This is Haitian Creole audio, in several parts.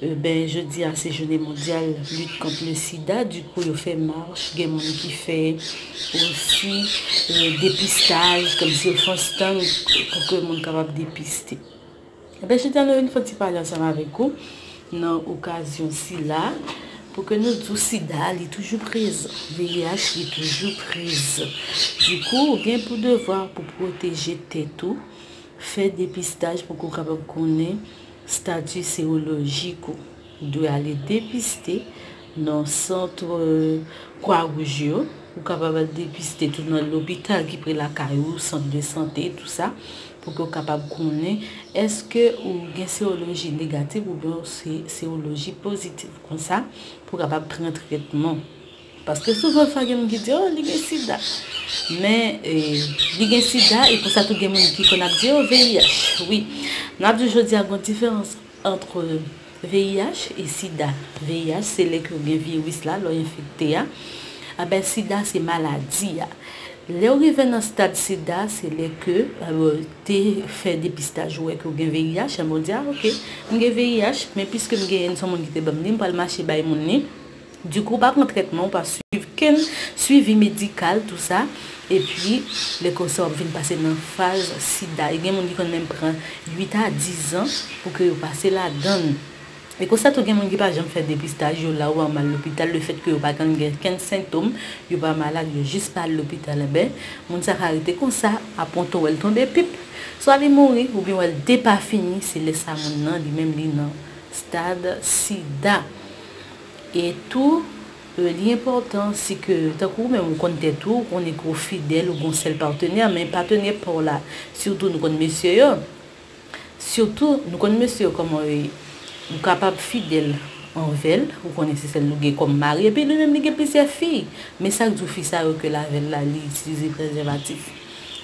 Ebyen jodi a se jounen mondyal lit kont le sida di kou yo fè mach gen moun ki fè osi depistaj kòm si yo fon stand pou ke moun kapab depiste ebyen jodi a nou vin fon ti pale ansanm avèk ou nan okazyon sila pou ke nou di ou sida li toujou prezan VIH li toujou prezan di kou ou gen pou devwa pou pwoteje tèt ou fè depistaj pou ke ou kapab konnen Stati serolojik ou dwe ale depiste nan sant Kwa Wouj yo. Ou kapab al depiste tou nan lopital ki pre lakay ou, sant de sante, tou sa, pou ke w kapab konnen èske ou gen seroloji negatif oubyen ou se seroloji pozitif. Konsa, pou w kapab pran tretman. Paske souvan fwa gen moun ki di oh li gen sida men li gen sida e pou sa tou gen moun ki konn ap di oh VIH wi mwen ap di jodi a gon diferans antre VIH e sida VIH se lè ke ou gen viris la lè ou enfekte a anben sida se maladi a lè ou rive nan stad sida se lè ke ou te fè depistaj ou wè ke ou gen VIH anben ou di a ok mwen gen VIH men piske m gen li se yon moun ki te banm li m pral mache bay moun li. Du kou ou pa pran trètman ou pa swiv kenn swivi medikal tou sa epi lè konsa wap vin pase nan faz sida e gen moun ki konn menm pran 8 a 10 ans pou ke yo pase ladann e konsa tou gen moun ki pa janm fè depistaj yo la ou anm al lopital le fèt ke yo pa konn gen kenn sentom yo pa malad yo jis pa al lopital enben moun sa ka rete konsa aponto wèl tonbe pip swa li mouri oubyen wèl depafini se lè sa moun nan li menm li nan stad sida. E tou, li enpòtan si ke, tankou ou menm ou konn tèt ou, ou konnen ke w fidèl, ou gen yon sèl patenè, men patenè pa w la, sitou nou konn mesye yo, sitou nou konn mesye yo kòman yo ye, ou kapab fidèl anvè l, ou konnen se sèl li gen kòm mari, epi li menm li gen plizyè fi, men sa k di w fi sa yo ke l avè l la li itilize prezèvatif?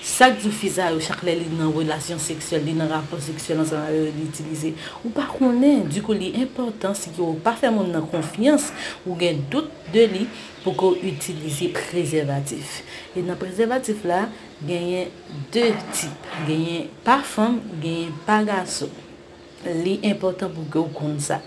Sak diw fi sa yo chak lè li nan relasyon seksyèl li nan rapò seksyèl ansanm avè yo li itilize ou pa konnen dikou li enpòtan si ke ou pa fè moun nan konfyans ou gen dout de li pou ke ou itilize prezèvatif e nan prezèvatif la genyen 2 tip genyen pa fanm genyen pa gason. Li enpòtan pou ke w konn sa.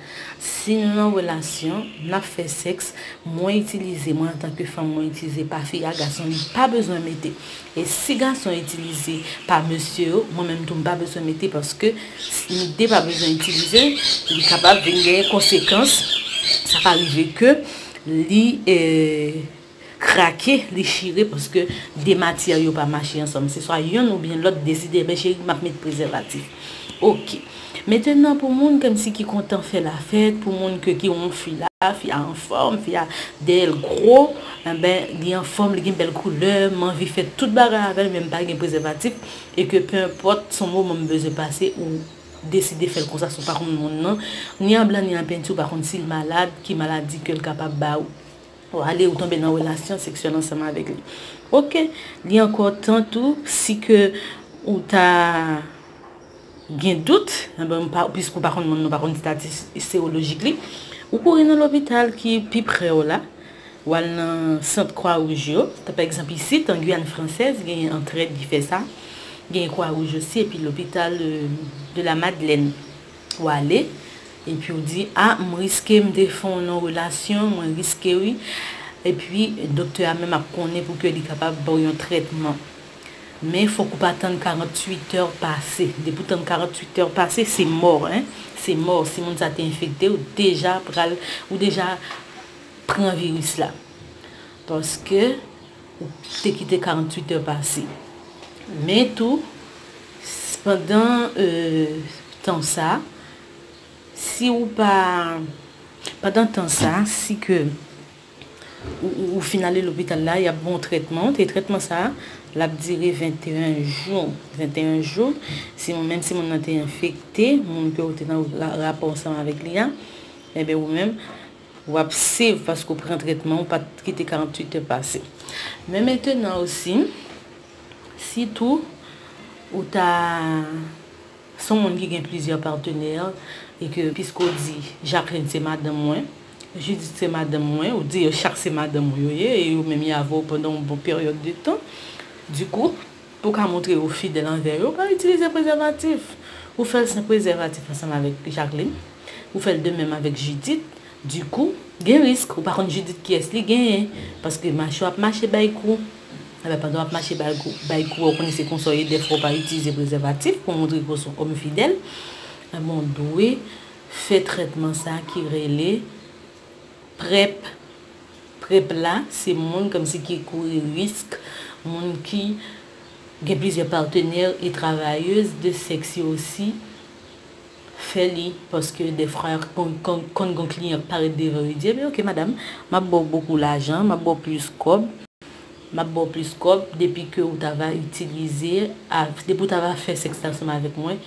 Si nou nan relasyon, nap fè sèks, mwen itilize, mwen antanke fanm mwen itilize pa fi a, gason li pa bezwen mete. E si gason itilize pa mesye yo, mwen menm tou m pa bezwen mete paske si nou 2 pa bezwen itilize, li kapab vin gen konsekans, sa ka rive ke li. krake, li chire paske 2 matyè yo pa mache ansanm. Se swa yonn oubyen lòt deside ebyen cheri map met prezèvatif. Ok. Metenan pou moun kmsi ki kontan fè lafèt, pou moun ke ki won fi la, fi a anfòm, fi a dèyè l gwo, enben li anfòm, li gen bèl koulè, m anvi fè tout bagay avè l men m pa gen prezèvatif e ke penpòt son moman m bezwen pase ou deside fè l konsa si w pa konn moun nan ni an blan ni an penti ou pa konn si l malad, ki maladi ke l kapab ba ou. Ou ale ou tonbe nan relasyon seksyèl ansanm avèk li. Ok, li ankò tan tou si ke ou ta gen dout, anben piske ou pa konn moun nan, ou pa konn stati serolojik li, ou kouri nan lopital ki pi pre w la, ou al nan sant kwa wouj yo, tan pa egzanp isit an Guyane Française genyen antrèd ki fè sa, genyen kwa wouj osi epi lopital de la Madeleine. Ou ale, epi ou di, a, m riske m te fon non relasyon, mwen riske wi. Epi doktè a menm ap konnen pou ke li kapab ba w yon trètman. Men fòk ou pa tann 48 è pase. Depi ou tann 48 è pase, se mò hein. Se mò, si moun sa te enfekte w, deja pral, ou deja pran viris la. Paske. ou te kite 48 è pase. Men tou, pandan tan sa, si ou pa, pandan tan sa, si ke ou fin ale lopital la, y ap ba w trètman, e trètman sa, l ap dire 21 jou, 21 jou, si moun, menm si moun nan te enfekte, moun ke ou te nan rapò ansanm avèk li a, enben ou menm, W ap save paske w pran tretman, w pa t kite 48 è pase. Men mentenan osi, si tou ou ta se yon moun ki gen plizyè patenè e ke piske w di Jacqueline se madanm mwen, Judith se madanm mwen, ou di yo chak se madanm ou yo ye e yo menm y ave w pandan yon bon peryòd de tan, dikou, Pou w ka montre ou fidèl anvè yo, pa itilize prezèvatif. Ou fè l san prezèvatif ansanm avèk Jaklin. Ou fè l de menm avèk Jidit. Dikou, gen risk ou pa konn Jidit kiyès li genyen. Paske mache w ap mache bay kou. Enben, pandan w ap mache bay kou a, ou konnen se konsa w ye, dèfwa ou pa itilize prezèvatif pou montre ke w se yon òm fidèl, enben w dwe fè trètman sa ki rele PrEP. Prep la se moun komsi ki kouri risk, moun ki Gen plizyè partenaire e travailleuse de sex yo osi fè li paske defra konn gon kliyan k parèt devan yo di ebyen ok madam map baw bokou lajan map baw plis kob map baw plis kob depi ke ou ta va itilize depi ou ta va fè sex la ansanm avèk mwen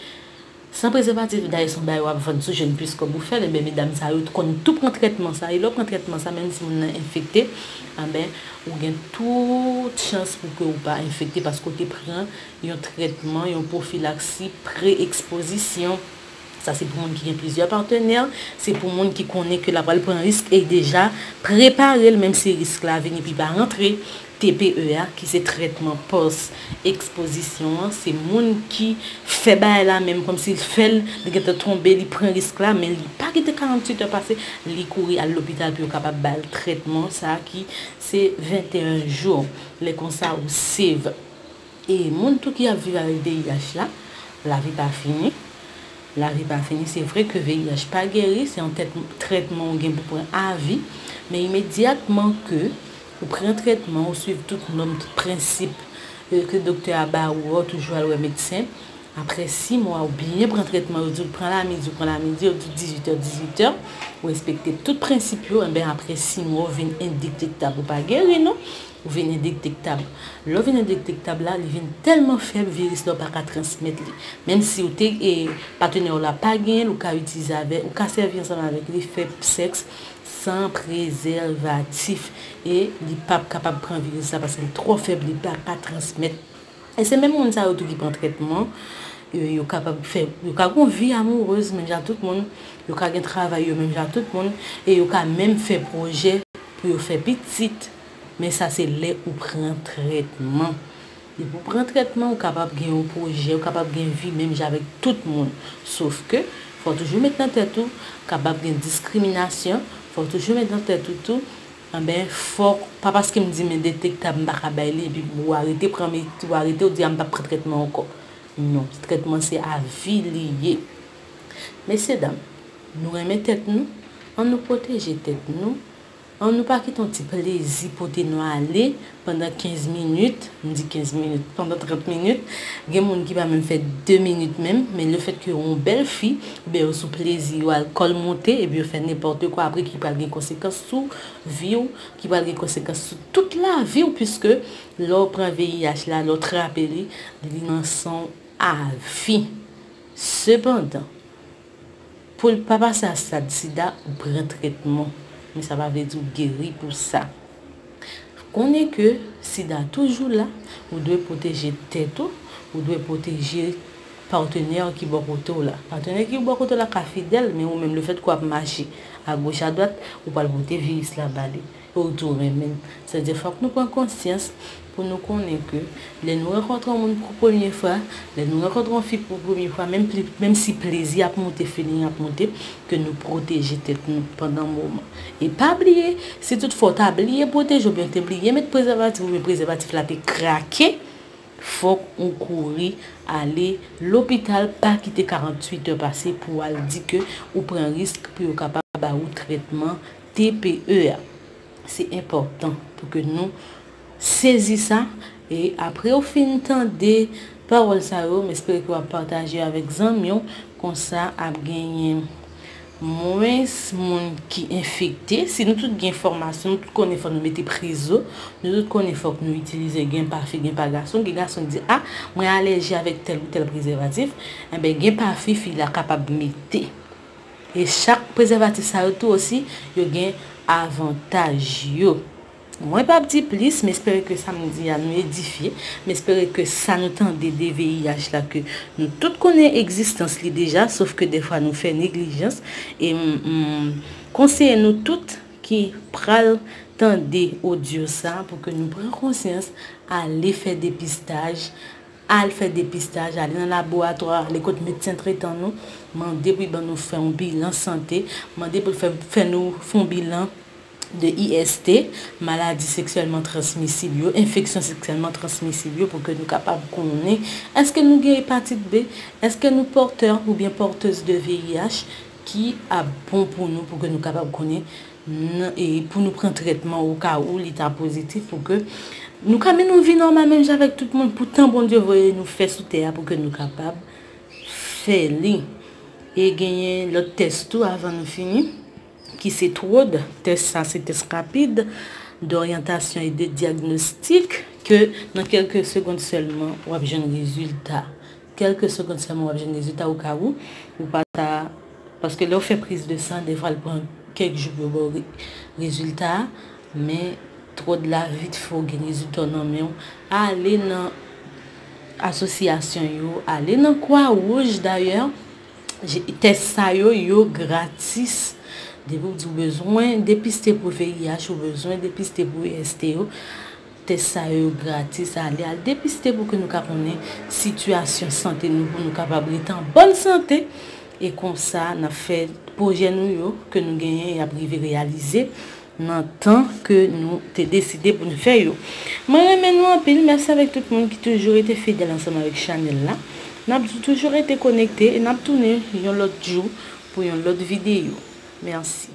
San prezèvatif dayè son bagay wap vann sou jèn plis kòb ou fèl enben medam sa yo t konn tou pran trètman sa e lè w pran trètman sa menm si moun nan enfekte anben ou gen tout chans pou ke ou pa enfekte paske ou te pran yon trètman yon pwofilaksi pre ekspozisyon sa se pou moun ki gen plizyè patenè se pou moun ki konnen ke la pral pran risk e deja prepare l menm si risk la vini epi pa rantre TPE a, ki se trètman pòs ekspozisyon an, se moun ki fè bagay la menm kòmsi l fè l, li gentan tonbe, li pran risk la, men li pa kite 48 è pase, li kouri al lopital pou yo kapab ba l trètman sa ki se 21 jou. Lè konsa ou save. E moun tou ki ap viv avèk VIH la, lavi pa fini, lavi pa fini, se vre ke VIH pa geri, se yon trètman ou gen pou pran avi, men imedyatman ke ou pran trètman, ou swiv tout nòm, tout prensip ke doktè a ba ou, ou toujou al wè medsen, aprè 6 mwa ou byen pran trètman, yo di ou pran lamidi, ou pran lamidi, yo di ou 18 è, 18 è, ou respekte tout prensip yo, enben aprè 6 mwa ou vin endiktektab, ou pa geri non, Ou vin endektektab. Lè w vin endektektab la, li vin tèlman fèb viris la ou pa ka transmèt li. Menm si ou te e patenè w la pa genyen l ou ka itilize avè ou ka sèvi ansanm avèk li fè sèks san prezèvatif e li pap kapab pran viris la paske li twò fèb li pa ka transmèt. E se menm moun sa yo tou ki pran trètman e yo kapab fè yo ka gon vi amourez menm jan ak tout moun, yo ka gen travay yo menm jan ak tout moun e yo ka menm fè pwojè pou yo fè pitit. Men sa se lè ou pran trètman. Depi ou pran trètman ou kapab gen yon pwojè, ou kapab gen vi menm jan avèk tout moun. Sof ke, fò w toujou met nan tèt ou, kapab gen diskriminasyon, fò w toujou met nan tèt ou tou, anben fòk, pa paske m di m endetektab m pa ka bay li epi ou arete pran medi, ou arete ou di a m p ap pran trètman ankò. Non, trètman se a vi li ye. Mesye dam, nou renmen tèt nou, an nou pwoteje tèt nou, An nou pa kite yon ti plezi pote nou ale pandan 15 minit, m di 15 minit, pandan 30 minit, gen moun ki pa menm fè 2 minit menm, men le fèt ke yo yon bèl fi, oubyen yo sou plezi yo, alkòl monte, epi yo fè nenpòte kwa apre ki pral gen konsekans sou vi w, ki pral gen konsekans sou tout lavi w, puiske lè w pran VIH la, lè w trape li, li nan san w avi. Sepandan. Poul pa pase a stad sida ou pran trètman men sa pa vle di ou geri pou sa. Konnen ke sida toujou la, ou dwe pwoteje tèt ou, ou dwe pwoteje patenè ki bò kote w la. Patenè ki bò kote w la ka fidèl men ou menm le fèt ke w ap mache a goch a dwat ou pral pote viris la ba li. pou l tou renmen l. Sa di fòk nou pran konsyans pou nou konnen ke lè nou rankontre yon moun pou premye fwa, lè nou rankontre yon fi pou premye fwa menm pli menm si plezi ap moute, feeling ap moute, ke nou pwoteje tèt nou pandan moman. E pa bliye, si tout fwa w ta bliye pwoteje oubyen w te bliye met prezèvatif oubyen prezèvatif la te krake, fòk ou kouri ale lopital, pa kite 48 è pase pou w al di ke ou pran risk pou yo kapab ba ou trètman TPE a. Se enpòtan pou ke nou sezi sa e apre ou fin tande pawòl sa yo, m espere ke w ap pataje yo avèk zanmi w, konsa ap genyen mwens moun ki enfekte. Si nou tout gen fòmasyon, nou tout konnen fò nou mete prezo, nou tout konnen fòk nou itilize gen pa fi gen pa gason, gen gason ki di a mwen alèji avèk tèl ou tèl prezèvatif, enben gen pa fi fi la kapab mete. E chak prezèvatif sa yo tou osi yo gen avantaj yo. Mwen p ap di plis, m espere ke sa m di a nou edifye, m espere ke sa nou tande de VIH la ke nou tout konnen egzistans li deja sof ke dèfwa nou fè neglijans e m konseye nou tout ki pral tande odyo sa pou ke nou pran konsyans ale fè depistaj Al fè depistaj, ale nan laboratwa, ale kot medsen tretan nou, mande pou y ban nou fè yon bilan sante, mande pou l fè fè nou fè yon bilan de IST, maladi seksyèlman transmisib yo, enfeksyon seksyèlman transmisib yo pou ke nou kapab konnen èske nou gen epatit B, èske nou pòtè oubyen pòtez de VIH ki ap bon pou nou pou ke nou kapab konnen N, e pou nou pran trètman o ka ou li ta pozitif pou ke nou ka mennen yon vi nòmal menm jan avèk tout moun pou tan Bondye voye nou fè sou tè a pou ke nou kapab fè li. E genyen lòt tès tou avan nou fini ki se TROD, tès sa se tès rapid doryantasyon e de dyagnostik ke nan kèlke segond sèlman w ap jwenn rezilta Kelke segond selman wap jwenn rezilta ou ka ou ou pa ta paske lèw fè priz de san defwa l pran kèk jou pou yo baw rezilta a men tròd la vit fè w gen rezilta w nan menw ale nan asosyasyon yo ale nan kwa wouj dayè tès sa yo yo gratis depi w di w bezwen depiste pou VIH ou bezwen depiste pou IST yo. Tès sa yo yo gratis, ale al depiste pou ke nou ka konnen sitiyasyon sante nou pou nou kapab rete an bòn sante e konsa n ap fè pwojè nou yo ke nou genyen y ap rive reyalize nan tan ke nou te deside pou n fè yo. Mwen renmen nou anpil, mèsi avèk tout moun ki toujou rete fidèl ansanm avèk chanèl la. N ap di toujou rete konekte e n ap tounen yon lòt jou pou yon lòt videyo. Mèsi.